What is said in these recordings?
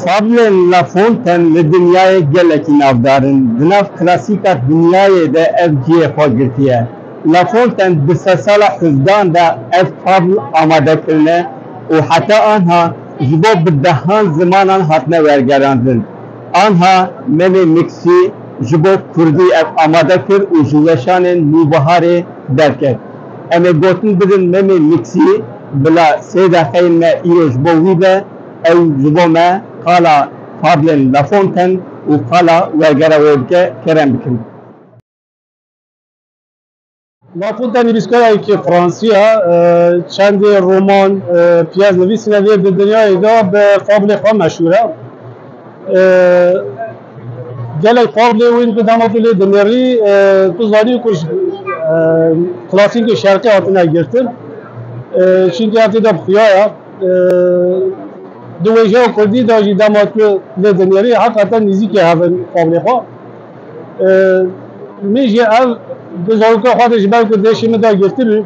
Fadlên Lafonten li dinyayê gelekî navdar in. Di nav klasîka dinyayê de ev cihê xwe girtiye. Lafonten di sedsala hevdehan de ev fadl amade kirine û heta anha ji bo bi dehan zimanan hatine wergerandin. Anha Melê Miksî ji bo kurdî ev amade kir û ji weşanên nûbiharê derket. Em ê gotin bidin Memê Miksî bila sê deqeyên me îro ji bo wî be, ew ji bo me qala Fablên Lafontaine û qala Wergera wê bike, kerem bikin. Ma xwe tenê bîstkarayekî fransî ye. Çendê roman, pyes nivîsîne vê di dinyayê de bi fablê xwe meşhûr e. Gelek fablê wî di dema tu lê dinirî tu zanî ku ji klasîkê şerqî hatine girtin. Çînkî ev tê de bi xuya ye. Di wêjeya kurdî de jî dema tu lê dinirî heqeten nîzîkê hev in fablê xwe. Min jî ev di zarokê xwe de ji ber ku deşê min da girtibû,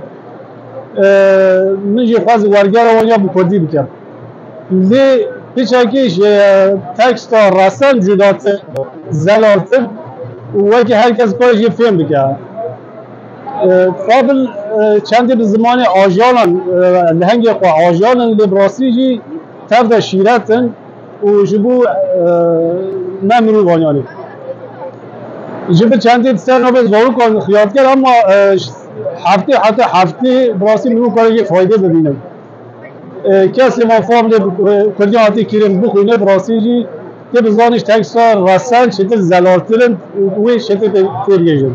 min jî xwest wergera wan ya bi kurdî bikim. Lê piçekî ji teksta restem cudatir, zelaltir û wekî her kes xwe jî fêm bike. Fadil çendê bi zimanê ajalan lehengê xwe ajalan lê bi rastî jî tev de şîret in. û ji bo ne mirovan yanî ji bi çendê ser navê zarokan xiyar diker ama heftê heta heftê bi rastî min wê karê jê faydê bibînim. Kesê van fam lê kurdî hatî kirin bixwîne bi rastî jî tê bi zanî ji teksta resen çêtir zelaltir in û wê çêtir tê bigihîjin.